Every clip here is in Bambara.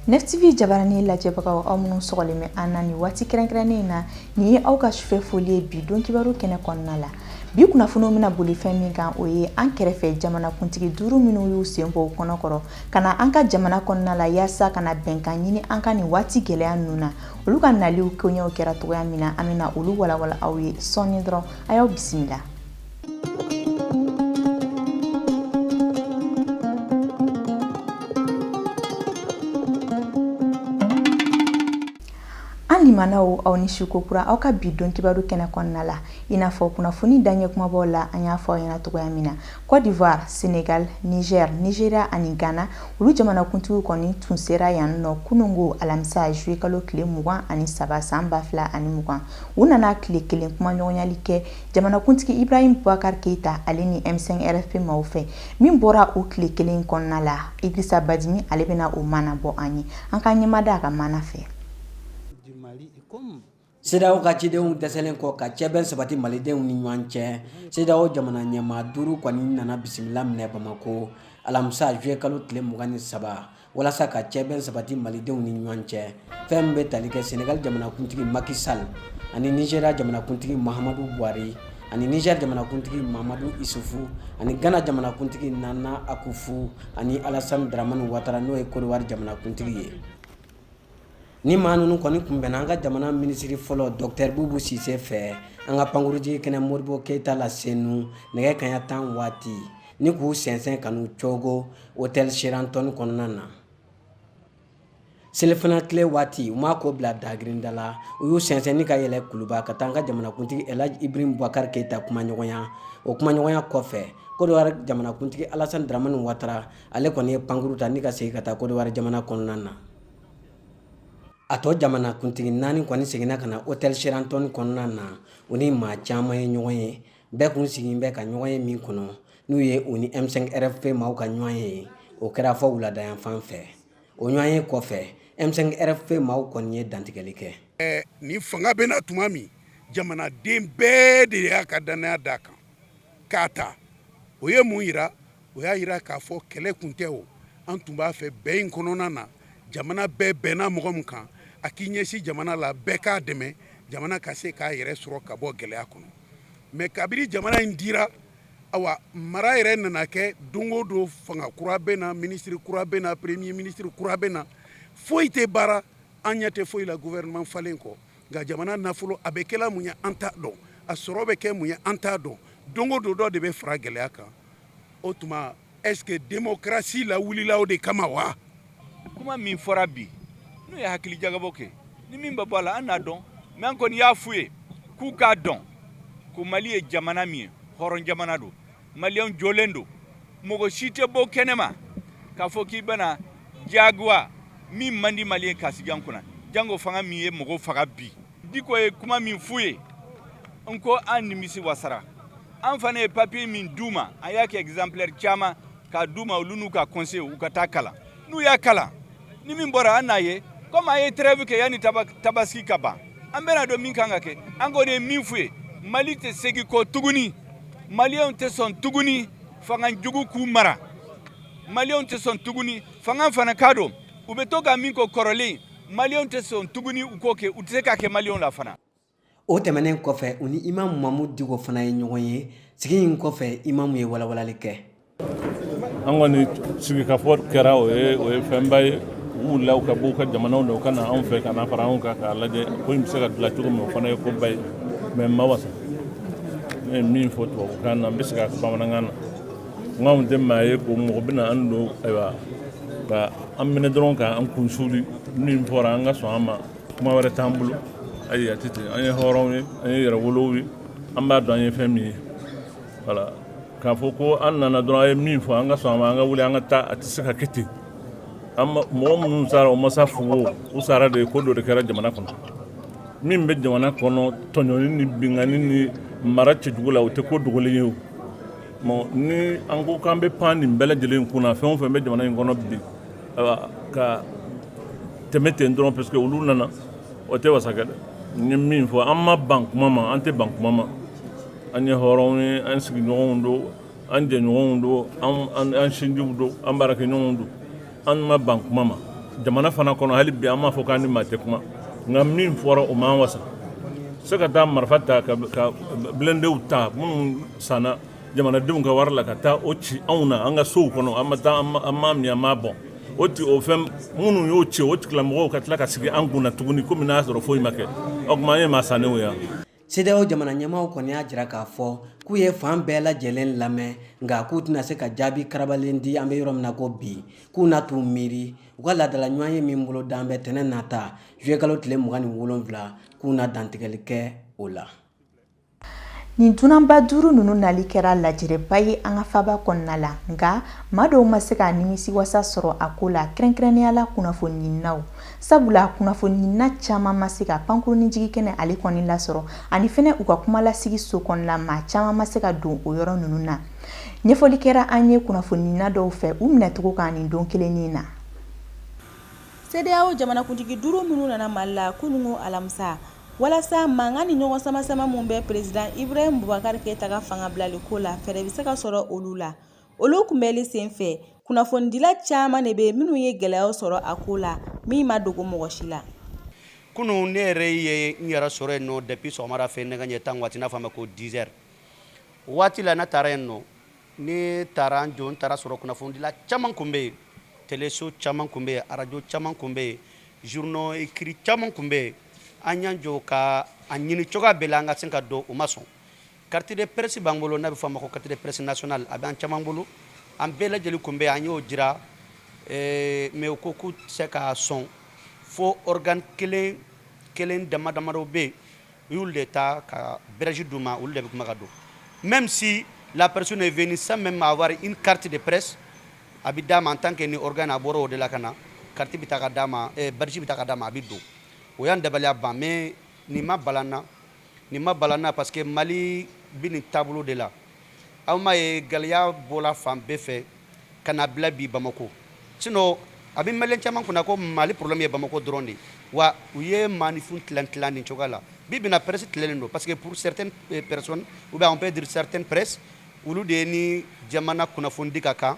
Nefitibi jabarani lajɛbagaw aw minnu sɔgɔlen bɛ an na nin waati kɛrɛnkɛrɛnnen in na nin ye aw ka sufɛ foli ye bi don kibaru kɛnɛ kɔnɔna la bi kunnafoniw bɛna boli fɛn min kan o ye an kɛrɛfɛ jamanakuntigi duuru minnu y'u sen bɔ u kɔnɔ kɔrɔ ka na an ka jamana kɔnɔna la yaasa ka na bɛnkan ɲini an ka nin waati gɛlɛya ninnu na olu ka naliw koɲɛw kɛra cogoya min na an bɛna olu walawala aw ye sɔɔni dɔrɔn a y'aw bisimila An limanaw aw ni su kokura aw ka bi don kibaru kɛnɛ kɔnɔna la i n'a fɔ kunnafoni daɲɛ kumabaw la an y'a fɔ aw ɲɛna cogoya min na kɔdiwari senegali nizɛri nizeriya ani gana olu jamanakuntigiw kɔni tun sera yan nɔ kunungo alamisa zuye kalo tile mugan ani saba san ba fila ani mugan u nana tile kelen kumaɲɔgɔnyali kɛ jamanakuntigi ibrahim bubakar keyita ale ni m5 rfp maaw fɛ min bɔra o tile kelen kɔnɔna la idrisa badimi ale bɛna o maana bɔ an ye an ka ɲɛmada a ka maana fɛ CEDEAO ka cidenw dɛsɛlen kɔ ka cɛbɛn sabati malidenw ni ɲɔgɔn cɛ CEDEAO jamana ɲɛmaa duuru kɔni nana bisimila minɛ bamakɔ alamisa juye kalo tile mugan ni saba walasa ka cɛbɛn sabati malidenw ni ɲɔgɔn cɛ fɛn min bɛ tali kɛ senegali jamanakuntigi maki sal ani nizeriya jamanakuntigi mahamadu buhari ani nizɛri jamanakuntigi mahamadu isufu ani gana jamanakuntigi nana akufu ani alasan daramani watara n'o ye kɔdiwari jamanakuntigi ye ni maa ninnu kɔni kunbɛnna an ka jamana minisiri fɔlɔ dɔkutɛri bubu sise fɛ an ka pankurunjigikɛnɛ modibɔ keyita la senu nɛgɛ kanɲɛ tan waati ni k'u sɛnsɛn ka n'u cogo otɛli sheraton kɔnɔna na selifana tile waati u m'a ko bila dagirinda la u y'u sɛnsɛn ni ka yɛlɛ kuluba ka taa an ka jamanakuntigi elaji ibrahim bubakar keyita kumaɲɔgɔnya o kumaɲɔgɔnya kɔfɛ kɔdiwari jamanakuntigi alasan daramani watara ale kɔni ye pankurun ta ni ka segin ka taa kɔdiwari jamana kɔnɔna na a tɔ jamanakuntigi naani kɔni seginna ka na otɛli sheraton kɔnɔna na u ni maa caman ye ɲɔgɔn ye bɛɛ kun sigin bɛ ka ɲɔgɔn ye min kɔnɔ n'o ye u ni m5 rfp maaw ka ɲɔgɔn ye o kɛra fɔ wuladayanfan fɛ o ɲɔgɔn ye kɔfɛ m5 rfp maaw kɔni ye dantigɛli kɛ ni fanga bɛ na tuma min jamanaden bɛɛ de y'a ka dannaya d'a kan k'a ta o ye mun jira o y'a jira k'a fɔ kɛlɛ kun tɛ o an tun b'a fɛ bɛn in kɔnɔna na jamana bɛɛ bɛnna mɔgɔ min kan a k'i ɲɛsin jamana la bɛɛ k'a dɛmɛ jamana ka se k'a yɛrɛ sɔrɔ ka bɔ gɛlɛya kɔnɔ mais kabiri jamana in dira awa mara yɛrɛ nana kɛ don o don fanga kura bɛ na ministre kura bɛ na premier ministre kura bɛ na foyi tɛ baara an ɲɛ tɛ foyi la gouvernement falen kɔ nka jamana nafolo a bɛ kɛla mun ye an t'a dɔn a sɔrɔ bɛ kɛ mun ye an t'a dɔn don o don dɔ de bɛ fara gɛlɛya kan o tuma est-ce que démocratie lawulila o de kama wa? Kuma min fɔra bi n'u ye hakili jagabɔ kɛ ni min bɛ bɔ a la an n'a dɔn mais an kɔni y'a f'u ye k'u k'a dɔn ko Mali ye jamana min ye hɔrɔn jamana don maliyɛnw jɔlen don mɔgɔ si tɛ bɔ kɛnɛma k'a fɔ k'i bɛna diyagoya min man di Mali ye k'a sigi an kunna jango fanga min ye mɔgɔw faga bi Diko ye kuma min f'u ye n ko an nimisi wasara an fana ye papiye min d'u ma an y'a kɛ exemplaire caman k'a d'u ma olu n'u ka conseil u ka t'a kalan n'u y'a kalan ni min bɔra an n'a ye komi a ye trêve kɛ yanni tabaski ka ban an bɛn'a dɔn min kan ka kɛ an kɔni ye min f'u ye Mali tɛ segin kɔ tuguni maliyɛnw tɛ sɔn tuguni fanga jugu k'u mara maliyɛnw tɛ sɔn tuguni fanga fana k'a dɔn u bɛ to ka min kɛ kɔrɔlen Maliyɛnw tɛ sɔn tuguni u k'o kɛ u tɛ se k'a kɛ Maliyɛnw la fana. O tɛmɛnen kɔfɛ u ni Imam Mamudu Diko fana ye ɲɔgɔn ye sigi in kɔfɛ Imam ye walawalali kɛ. An kɔni sigikafɔ kɛra o ye fɛnba ye u wulila u ka b'u ka jamanaw na u ka na anw fɛ ka na fara anw kan k'a lajɛ ko in bɛ se ka dilan cogo min o fana ye koba ye mais an ma wasa ne ye min fɔ tubabukan na n bɛ segin a kan bamanankan na. n k'anw tɛ maa ye ko mɔgɔ bɛna an don ayiwa ka an minɛ dɔrɔn ka an kun suuli min fɔra an ka sɔn a ma kuma wɛrɛ t'an bolo ayi a tɛ ten an ye hɔrɔnw ye an ye yɛrɛwolow ye an b'a dɔn an ye fɛn min ye voilà k'a fɔ ko an nana dɔrɔn a ye min fɔ an ka sɔn a ma an ka wuli an ka taa a tɛ se ka kɛ ten an ma mɔgɔ minnu sara o ma sa fu o u sara de ko dɔ de kɛra jamana kɔnɔ min bɛ jamana kɔnɔ tɔɲɔni ni binkanni ni mara cɛjugu la o tɛ ko dogolen ye o Bon ni an ko k'an bɛ pan nin bɛɛ lajɛlen kunna fɛn o fɛn bɛ jamana in kɔnɔ bi ka tɛmɛ ten dɔrɔn parce que olu nana o tɛ wasa kɛ dɛ n ye min fɔ an ma ban kuma ma an tɛ ban kuma ma an ye hɔrɔnw ye an sigiɲɔgɔnw don an jɛɲɔgɔnw don an sinjiw don an baarakɛɲɔgɔnw don an ma ban kuma ma jamana fana kɔnɔ hali bi an m'a fɔ k'an ni maa tɛ kuma nka min fɔra o m'an wasa se ka taa marifa ta ka bilɛndew ta minnu sanna jamanadenw ka wari la ka taa o ci anw na an ka sow kɔnɔ an ma taa an ma min an ma bɔn o ti o fɛn minnu y'o ci o tigilamɔgɔw ka tila ka sigi an kunna tuguni komi n'a sɔrɔ foyi ma kɛ o tuma an ye maa sannenw ye CEDEAO jamana ɲɛmaaw kɔni y'a jira k'a fɔ k'u ye fan bɛɛ lajɛlen lamɛn nka k'u tɛna se ka jaabi karabalen di an bɛ yɔrɔ min na ko bi k'u na t'u miiri u ka laadala ɲɔgɔnye min bolodalen bɛ tɛnɛ nata juye kalo tile mugan ni wolonwula k'u na dantigɛli kɛ o la Nin dunanba duuru ninnu nali kɛra lajɛrɛba ye an ka faba kɔnɔna la nka maa dɔw ma se ka nimisiwasa sɔrɔ a ko la kɛrɛnkɛrɛnnenya la kunnafoni ɲininaw Sabula kunnafoni ɲinina caman ma se ka pankurun jigin kɛnɛ ale kɔni lasɔrɔ ani fɛnɛ u ka kumalasigi so kɔnɔna maa caman ma se ka don o yɔrɔ ninnu na ɲɛfɔli kɛra an ye kunnafoni ɲinina dɔw fɛ u minɛcogo kan nin don kelen nin na CEDEAO jamanakuntigi duuru minnu nana mali la kunun alamisa walasa mankan ni ɲɔgɔn samasama min bɛ peresidan Ibrahim bubakari keyita ka fanga bilali ko la fɛɛrɛ bɛ se ka sɔrɔ olu la olu kunbɛli senfɛ kunnafonidila caman de bɛ minnu ye gɛlɛyaw sɔrɔ a ko la min ma dogo mɔgɔ si la kunun ne yɛrɛ ye n yɛrɛ sɔrɔ yen nɔ depuis sɔgɔmada fɛ nɛgɛ ɲɛ tan waati n'a fɔ ma ko 10 heures waati la ne taara yen nɔ ne taara n jɔ n taara sɔrɔ kunnafonidila caman kun bɛ yen teleso caman kun bɛ yen arajo caman kun bɛ yen journaux écrits caman kun bɛ yen an y'an jɔ ka a ɲini cogoya bɛɛ la an ka se ka don u ma sɔn Carte de presse b'an bolo n'a bɛ fɔ a ma ko carte de presse nationale a b'an caman bolo an bɛɛ lajɛlen kun bɛ an y'o jira eh, mais u ko k'u tɛ se ka sɔn fo organe kelen kelen dama damadɔ bɛ yen u y'olu de ta ka badge d'u ma olu de bɛ kuma ka don même si la personne est venue sans même avoir une carte de presse a bɛ d'a ma en tant que ni organe a bɔra o de la ka na carte bɛ ta ka d'a ma eh, badge bɛ ta ka d'a ma a bɛ don o y'an dabaliya ban mais nin ma bala n na Nin ma bala n na parce que mali bɛ nin taabolo de la aw m'a ye gɛlɛya bɔla fan bɛɛ fɛ ka na bila bi bamakɔ sinon a bɛ malien caman kunna ko mali problème ye bamakɔ dɔrɔn de wa u ye maanifin tilan tila nin cogoya la bi bi in na presse tilalen don parce que pour certaines personnes ou bien on peut dire certaines presses olu de ye ni jamana kunnafoni di ka kan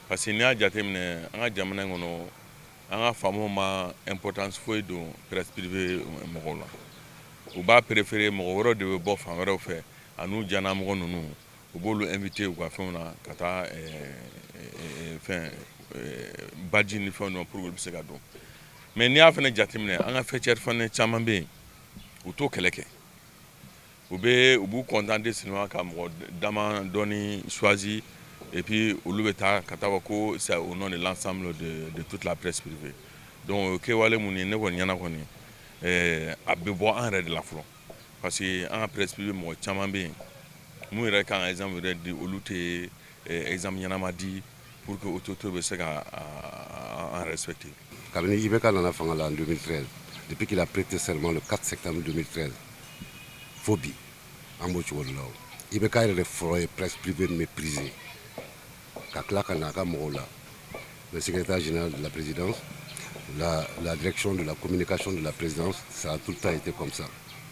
Parce que n'i y'a jateminɛ an ka jamana in kɔnɔ an ka faamaw ma importance foyi don presse privée mɔgɔw la u b'a préférer mɔgɔ wɛrɛw de bɛ bɔ fan wɛrɛw fɛ an'u janamɔgɔ ninnu u b'olu inviter u ka fɛnw na ka taa euh, euh, fɛn euh, badge ni fɛnw na pour que olu bɛ se ka don mais n'i y'a fana jateminɛ an ka faîtière fana caman bɛ yen u t'o kɛlɛ kɛ U bɛ u b'u kɔntan de sen ka mɔgɔ da dɔɔni suwaz ep olu bɛ taa ka taa ko sa u nɔ de la sa de tu tilaprespife don kewale minnu ye ne kɔni ɲɛna kɔni a bɛ bɔ an yɛrɛ de la fɔlɔ parce que an ka presp mɔgɔ caman bɛ yen n'u yɛrɛ ka ezsan yɛrɛ di olu tɛ ezsan ɲɛnaanama di Pour que autorité bɛ se ka an respecter kabini IBK nana fanga la en 2013 depuis qu'il a prêté serment le 4 septembre 2013 fo bi an b'o cogo de la o IBK yɛrɛ de fɔlɔ ye presse privée méprisée ka tila ka na a ka mɔgɔw la le secrétaire général de la présidence, la direction de la communication de la présidence ça a tout le temps été comme ça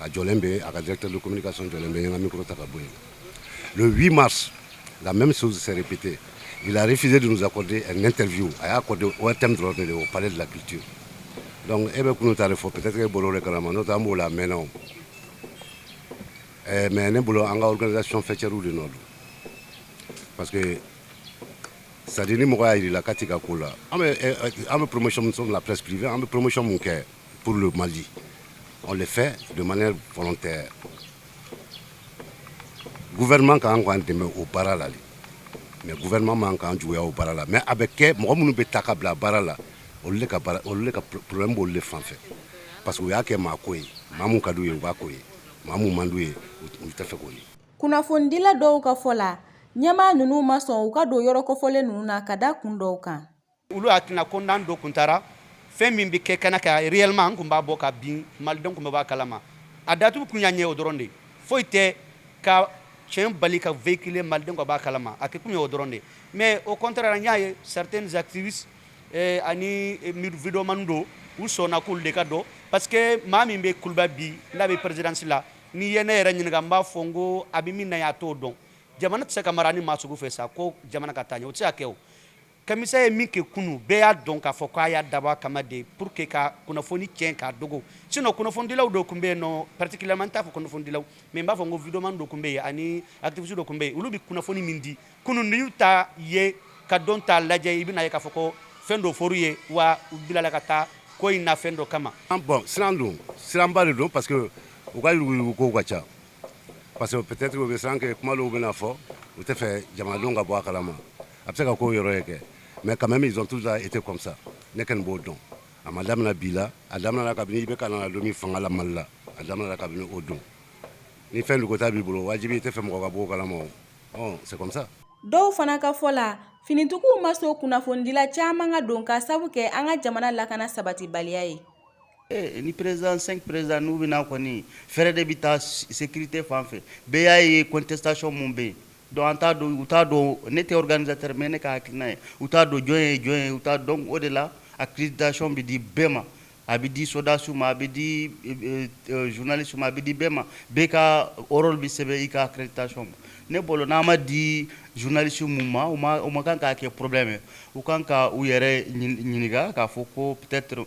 a jɔlen bɛ a ka directeur de communication jɔlen bɛ n ye n ka micro ta ka bɔ yen le 8 mars la même chose s'est répétée il a refusé de nous accorder un interview a y'a accordé ORTM dɔrɔn de au palais de la culture donc e bɛ kunun ta de fɔ peut-être que e bɔra o de kalama n'o tɛ an b'o la a mɛnna o eh, mais ne bolo an ka organisation faîtière de nɔ don parce que c'est à dire ni mɔgɔ y'a yir'i la k'a t'i ka ko la an bɛ eh, eh, an bɛ promotion min sɔrɔ la presse privée an bɛ promotion mun kɛ Pour le Mali, on le fait de manière volontaire. Gouvernement kan k'an dɛmɛ o baara la de mais gouvernement man k'an juguya o baara la mais a bɛ kɛ mɔgɔ minnu bɛ ta ka bila baara la olu de ka baara olu de ka problème b'olu de fan fɛ parce que u y'a kɛ maa ko ye maa mun ka d'u ye u b'a k'o ye maa mun man d'u ye u tɛ fɛ k'o ye. Kunnafonidila dɔw ka fɔ la, ɲɛmaa ninnu ma sɔn u ka don yɔrɔ kɔfɔlen ninnu na ka da kun dɔw kan. olu hakilina ko n'an dun kun taara fɛn min bɛ kɛ kɛnɛ kan réellement an tun b'a bɔ ka bin malidenw tun bɛ b'a kalama a datugu kun y'a ɲɛ o dɔrɔn de ye foyi tɛ ka tiɲɛ bali ka véhiculer malidenw ka b'a kalama a kɛ kun ye o dɔrɔn de ye mais au contraire n y'a ye certaines activistes eh, ani eh, videomani dɔw u sɔnna k'olu de ka don parce que maa min bɛ kuluba bi n'a bɛ présidence la n'i ye ne yɛrɛ ɲininka n b'a fɔ n ko a bɛ min na a t'o dɔn jamana tɛ se ka mara ni maa sugu fɛ sa ko jamana ka taa ɲɛ o tɛ se ka kɛ o kamisa ye min kɛ kunun bɛɛ y'a dɔn k'a fɔ k'a y'a dabɔ a kama de pour que ka kunnafoni cɛn k'a dogo sinon kunnafonidilaw dɔ tun bɛ yen non particulièrement n t'a fɔ kunnafonidilaw mais n b'a fɔ n ko videomani dɔ tun bɛ yen ani activiste dɔ tun bɛ yen olu bɛ kunnafoni min di kunun n'i y'u ta ye ka dɔw ta lajɛ i bɛn'a ye k'a fɔ ko fɛn dɔ fɔr'u ye wa u bilala ka taa ko in na fɛn dɔ kama bon siran don siranba de don parce que u ka yuruguyurugu kow ka ca parce que peut-être u bɛ siran que kuma dɔw bɛna fɔ u tɛ fɛ jamanadenw ka bɔ a kalama a bɛ se ka k'o yɔrɔ ye kɛ mais quand même ils ont toujours été comme ça ne kɔni b'o dɔn a ma daminɛ bi la a daminɛna kabini IBK na don min fanga la Mali la a daminɛna kabini o don ni fɛn dogota b'i bolo wajibi i tɛ fɛ mɔgɔ ka b'o kalama o ɔ c'est comme ça dɔw fana ka fɔ la finitigiw ma sɔn kunnafonidila caman ka don k'a sabu kɛ an ka jamana lakana sabatibaliya ye Eh, ni président 5 président n'u bɛ na kɔni fɛɛrɛ de bɛ taa sécurité fan fɛ bɛɛ y'a ye contestation mun bɛ yen donc an t'a dɔn u t'a dɔn ne tɛ organisateur mais ne ka hakilina ye u t'a dɔn jɔn ye jɔn ye u t'a dɔn o de la accréditation bɛ di bɛɛ ma a bɛ di sodasiw ma a bɛ di euh, euh, journaliste ma a bɛ di bɛɛ ma bɛɛ ka rôle bɛ sɛbɛn i ka accréditation ma ne bolo n'a ma di journaliste mun ma u ma u ma kan k'a kɛ problème ye u kan ka u yɛrɛ ɲininka k'a fɔ ko peut-être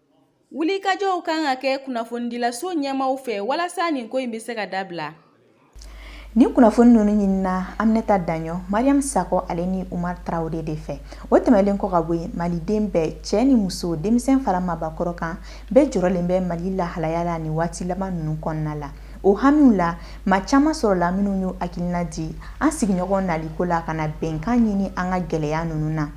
Wulikajɔw kan ka kɛ kunnafonidilaso ɲɛmaaw fɛ walasa nin ko in bɛ se ka dabila. Ni kunnafoni ninnu ɲinina Aminata Daɲɔ, Mariam Sakɔ ale ni Umar Traore de fɛ. O tɛmɛlen kɔ ka bɔ yen, Maliden bɛɛ, cɛ ni muso, denmisɛn fara maabakɔrɔ kan, bɛɛ jɔrɔlen bɛ Mali lahalaya la nin waati laban ninnu kɔnɔna la. O hamiw la, maa caman sɔrɔla minnu y'u hakilina di an sigiɲɔgɔn naliko la ka na bɛnkan ɲini an ka gɛlɛya ninnu na.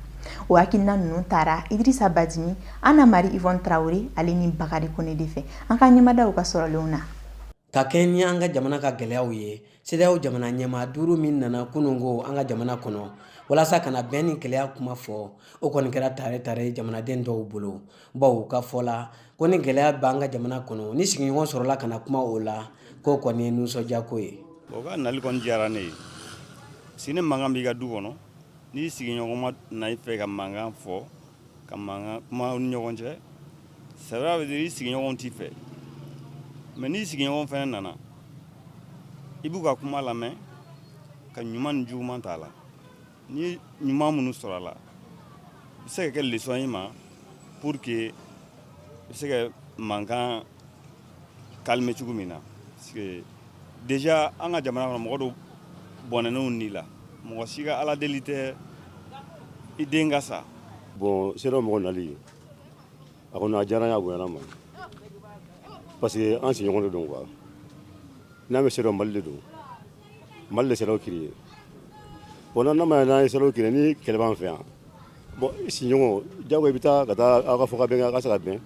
O hakilina ninnu taara Idirisa Badini Anna Mari Ivɔni Tarawele ale ni Bakari Jan Kɔnɛ de fɛ an ka ɲɛ da u ka sɔrɔlenw na ka kɛɲɛ ni an ka jamana ka gɛlɛyaw ye CEDEAO jamana ɲɛmaa duuru min nana kunungo an ka jamana kɔnɔ walasa ka na bɛn ni gɛlɛya kuma fɔ o kɔni kɛra taare taare ye jamanaden dɔw bolo bawo u ka fɔ la ko ni gɛlɛya bɛ an ka jamana kɔnɔ ni sigiɲɔgɔn sɔrɔla ka na kuma o la k'o kɔni ye nisɔndiyako ye o ka nali kɔni diyara ne ye si ni mankan b'i ka du kɔnɔ n'i sigiɲɔgɔn ma na i fɛ ka mankan fɔ ka mankan kuma aw ni ɲɔgɔn cɛ c'est pour dire i sigiɲɔgɔnw t'i fɛ mais n'i sigiɲɔgɔn fana nana i b'u ka kuma lamɛn ka ɲuman ni juguman ta a la ni ɲuman minnu sɔrɔ a la i bɛ se ka kɛ leçon y'i ma pour que i bɛ se ka mankan calmer cogo min na déjà an ka jamana kɔnɔ mɔgɔ dɔw bɔnɛnen u ni la mɔgɔ si ka ala deli tɛ i den ka sa bon CEDEAO mɔgɔ nali a kɔni a diyara n ye a bonyana n ma parce que an sigiɲɔgɔn de don quoi n'a mɛn CEDEAO Mali de don Mali de CEDEAO créé bon n'an ma n'an ye CEDEAO créé ni kɛlɛ b'an fɛ yan bon sigiɲɔgɔn jago i bɛ taa ka taa aw ka fɔ ka bɛn a ka se ka bɛn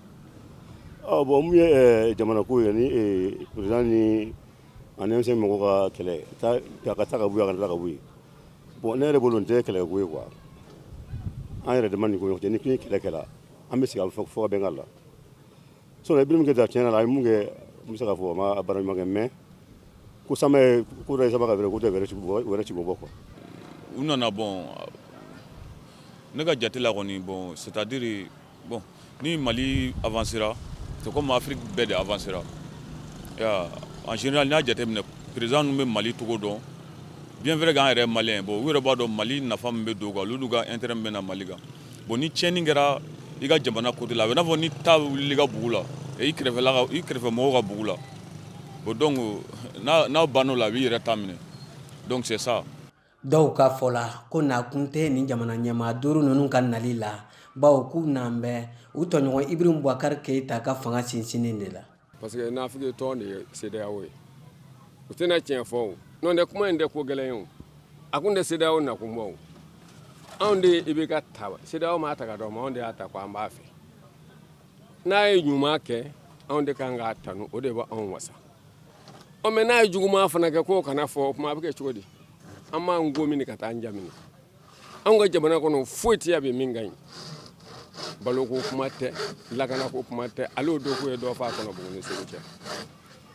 Bon min ye jamana ko ye ni président ani M5 mɔgɔw ka kɛlɛ ka ka taa bɔ la ka bɔ bon ne yɛrɛ bolo nin tɛ kɛlɛ ko ye quoi an yɛrɛ dama ni ɲɔgɔn cɛ ni kɛlɛ kɛla an bɛ sigi ka fɔ ka bɛn ka la sinon Ibrahim Keita tiɲɛ na a ye mun kɛ n bɛ se k'a fɔ a ma baara ɲuman kɛ mais ko sama ka ko tɛ wɛrɛ wɛrɛ ci bɔ quoi u nana bon ne ka jate la kɔni bon c'est-à-dire Bon ni Mali avancera c'est comme Afrique bɛɛ de avancera i y'a ye en général n'i y'a jateminɛ président ninnu bɛ Mali tɔgɔ dɔn bien vrai que an yɛrɛ ye malien ye bon u yɛrɛ b'a dɔn Mali nafa min bɛ don u kan olu n'u ka intérêt min bɛ na Mali kan bon ni tiɲɛni kɛra i ka jamana côté la a bɛ i n'a fɔ ni ta wulila i ka bugu la i kɛrɛfɛla ka i kɛrɛfɛ mɔgɔw ka bugu la bon donc n'a n'a banna o la a b'i yɛrɛ ta minɛ donc c'est ça Dɔw ka fɔ la ko nakun tɛ nin jamana ɲɛmaa duuru ninnu ka nali la bawo k'u nan bɛ u tɔɲɔgɔn Ibrahim Boubacar Keïta ka fanga sinsinni de la parce que nafigi tɔn de ye CEDEAO ye u tɛna tiɲɛ fɔ n'o tɛ kuma in tɛ ko gɛlɛn ye a kun tɛ CEDEAO nakun bɔ anw de IBK ta CEDEAO m'a ta k'a d'an ma anw de y'a ta ko an b'a fɛ n'a ye ɲuman kɛ anw de ka kan k'a tanu o de b'anw wa mais n'a ye juguman fana kɛ k'o kana fɔ o tuma a bɛ kɛ cogo di an b'an ko min ka taa an ja anw ka jamana kɔnɔ foyi tɛ yan bi min ka ɲi balo ko kuma tɛ lakana ko kuma tɛ ale don k'u ye dɔ faa Kɔnɔbugu ni Segu cɛ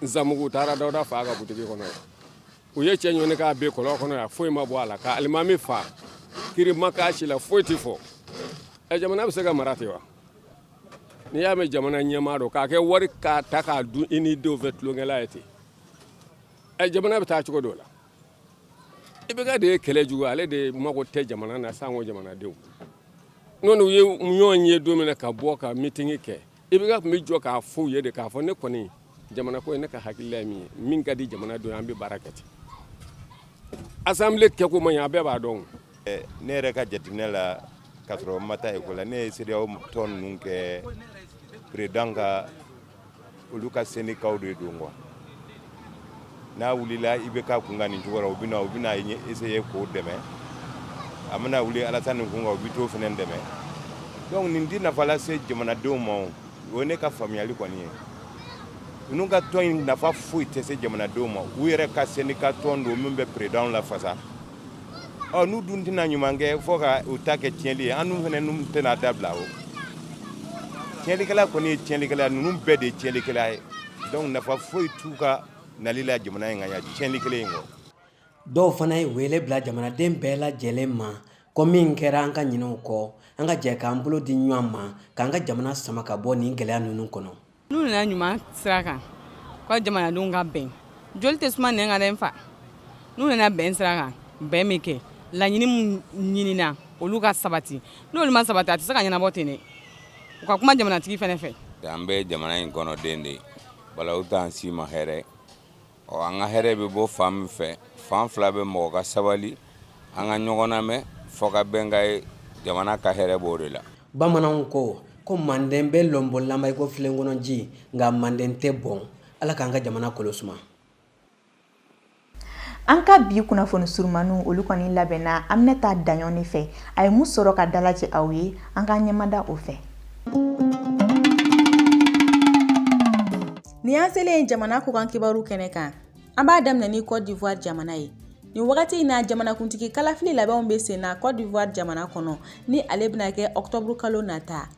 nsamugu taara Dawuda faa ka butigi kɔnɔ yan u ye cɛ ɲɔni k'a bin kɔlɔn kɔnɔ yan foyi ma bɔ a la ka alimami faa kiri ma k'a si la foyi tɛ fɔ jamana bɛ se ka mara ten wa n'i y'a mɛn jamana ɲɛmaa dɔ k'a kɛ wari k'a ta k'a dun i ni denw fɛ tulonkɛla ye ten ɛ jamana bɛ taa cogo dɔ la IBK de ye kɛlɛ jugu ale de mago tɛ jamana na sanko jamanadenw n'u ye ɲɔgɔn ye don min na ka bɔ ka mitingi kɛ IBK tun bɛ jɔ k'a fɔ u ye de k'a fɔ ne kɔni jamana ko ye ne ka hakilila ye min ye min ka di jamana don an bɛ baara kɛ ten asanbile kɛko man ɲi a bɛɛ b'a dɔn ne yɛrɛ ka jateminɛ la k'a sɔrɔ n ma taa ekɔli la ne ye sedeyawo tɔn ninnu kɛ peredanw ka olu ka sendika de don quoi n'a wulila IBK kun kan nin cogo la u bɛna u bɛna essayer k'o dɛmɛ a mana wuli Alasani kun kan u bɛ t'o fana dɛmɛ donc nin tɛ nafa lase jamanadenw ma o O ye ne ka faamuyali kɔni ye ninnu ka tɔn in nafa foyi tɛ se jamanadenw ma u yɛrɛ ka sendika tɔn don min bɛ peredanw lafasa ɔ n'u dun tɛna ɲuman kɛ fo ka u ta kɛ tiɲɛli ye an dun fana ninnu tɛna dabila o tiɲɛlikɛla kɔni ye tiɲɛlikɛla ninnu bɛɛ de ye tiɲɛlikɛla ye donc nafa foyi t'u ka nali la jamana in kan yan tiɲɛli kelen in kɔ dɔw fana ye wele bila jamanaden bɛɛ lajɛlen ma ko min kɛra an ka ɲinɛ o kɔ an ka jɛ k'an bolo di ɲɔgɔn ma k'an ka jamana sama ka bɔ nin gɛlɛya ninnu kɔnɔ n'u nana ɲuman sira kan ko jamanadenw ka bɛn joli tɛ suma nɛn kan dɛ n fa n'u nana bɛn sira kan bɛn mana kɛ laɲini min ɲinina olu ka sabati n'olu ma sabati a tɛ se ka ɲɛnabɔ ten dɛ u ka kuma jamanatigi fana fɛ an bɛ jamana in kɔnɔ den de ye bala u t'an si ma hɛrɛ Ɔ an ka hɛrɛ bɛ bɔ fan min fɛ fan fila bɛ mɔgɔ ka sabali an ka ɲɔgɔn namɛn fɔ ka bɛn ka ye jamana ka hɛrɛ b'o de la bamananw ko ko manden bɛ lɔnbɔlanba iko filen kɔnɔ ji nka manden tɛ bɔn ala k'an ka jamana kolo suma An ka bi kunnafoni surumaniw olu kɔni labɛnna Aminata Daɲɔn de fɛ. A ye mun sɔrɔ ka dalajɛ aw ye? An k'an ɲɛmada o fɛ. Ni an selen ye jamana kɔkan kibaru kɛnɛ kan an b'a daminɛ ni Côte d'Ivoire jamana ye nin wagati in na jamanakuntigi kalafili labɛnw bɛ sen na Côte d'Ivoire jamana kɔnɔ ni ale bɛna kɛ octobre kalo nata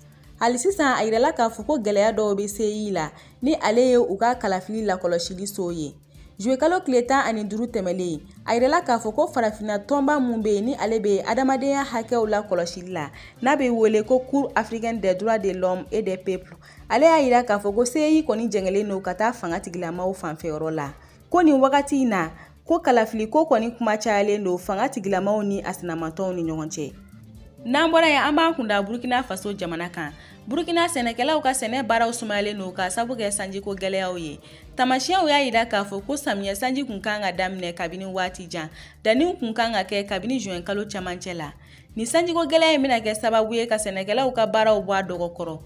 hali sisan a yirala k'a fɔ ko gɛlɛya dɔw bɛ CEI la ni ale ye u ka kalafili lakɔlɔsili so ye juye kalo tile tan ani duuru tɛmɛnlen a yirala k'a fɔ ko farafinna tɔnba min bɛ yen ni ale bɛ adamadenya hakɛw lakɔlɔsili la n'a bɛ wele ko Cour africaine des droits de l'homme et des peuples ale y'a jira k'a fɔ ko CEI kɔni jɛngɛlen don ka taa fanga tigilamaw fanfɛ yɔrɔ la ko nin wagati in na ko kalafili ko kɔni kuma cayalen don fanga tigilamaw ni a sinamatɔnw ni ɲɔgɔn cɛ n'an bɔra yen an b'an kunda burukina faso jamana kan burukina sɛnɛkɛlaw ka sɛnɛ baaraw sumayalen don k'a sabu kɛ sanjiko gɛlɛyaw ye tamasiyɛnw y'a jira k'a fɔ ko samiyɛ sanji kun kan ka daminɛ kabini waati jan danniw kun kan ka kɛ kabini juwɛn kalo camancɛ la Nin sanjiko gɛlɛya in bɛna kɛ sababu ye ka sɛnɛkɛlaw ka baaraw bɔ a dɔgɔkɔrɔ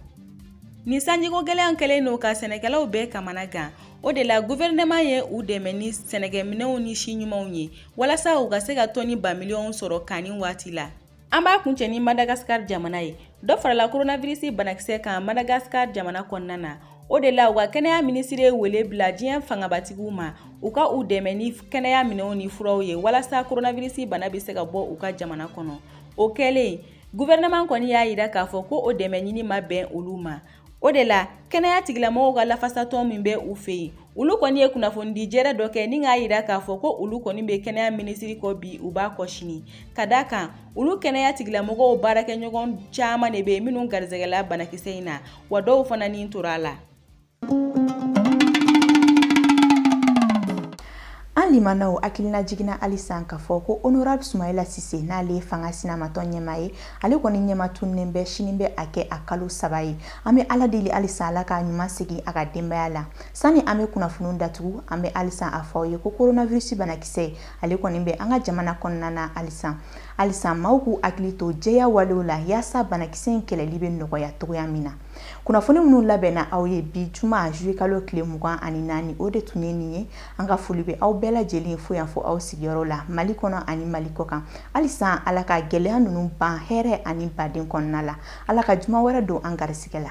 Nin sanjiko gɛlɛya kɛlen don ka sɛnɛkɛlaw bɛɛ kamana gan o de la gouvernement ye u dɛmɛ ni sɛnɛkɛminɛnw ni si ɲumanw ye walasa u ka se ka tɔni ba miliyɔnw sɔrɔ kanni waati la an b'a kuncɛ ni madagasikari jamana ye dɔ farala koronavirisi banakisɛ kan madagasikari jamana kɔnɔna na O de la u ka kɛnɛya minisiri ye wele bila diɲɛ fangabatigiw ma u ka u dɛmɛ ni kɛnɛya minɛnw ni furaw ye walasa koronavirisi bana bɛ se ka bɔ u ka jamana kɔnɔ o kɛlen gouvernement kɔni y'a jira k'a fɔ ko o dɛmɛ ɲini ma bɛn olu ma o de la kɛnɛya tigilamɔgɔw ka lafasatɔn min bɛ u fɛ yen olu kɔni ye kunnafonidi jɛrɛ dɔ kɛ ni k'a jira k'a fɔ ko olu kɔni bɛ kɛnɛya minisiri kɔ bi u b'a kɔ sini ka d'a kan olu kɛnɛya tigilamɔgɔw baarakɛɲɔgɔn caman de bɛ yen minnu garisɛgɛla banakisɛ in na wa dɔw fana ni tora a la an limanaw hakilina jiginna halisa k'a fɔ ko honorable sumayila sise n'ale ye fanga sinamatɔn ɲɛmaa ye ale kɔni ɲɛma tununen bɛ sini bɛ a kɛ a kalo saba ye an bɛ ala deli halisa ala k'a ɲuman segin a ka denbaya la sani an bɛ kunnafoniw datugu an bɛ halisa a fɔ aw ye ko coronavirus banakisɛ ale kɔni bɛ an ka jamana kɔnɔna na halisa halisa maaw k'u hakili to jɛya walew la yaasa banakisɛ in kɛlɛli bɛ nɔgɔya cogoya min na kunnafoni minnu labɛnna aw ye bi juma juye kalo tile mugan ani naani o de tun ye nin ye an ka foli bɛ aw bɛɛ lajɛlen fo yan fɔ aw sigiyɔrɔ la mali kɔnɔ ani mali kɔkan halisa ala ka gɛlɛya ninnu ban hɛrɛ ani baden kɔnɔna la ala ka juma wɛrɛ don an garisigɛ la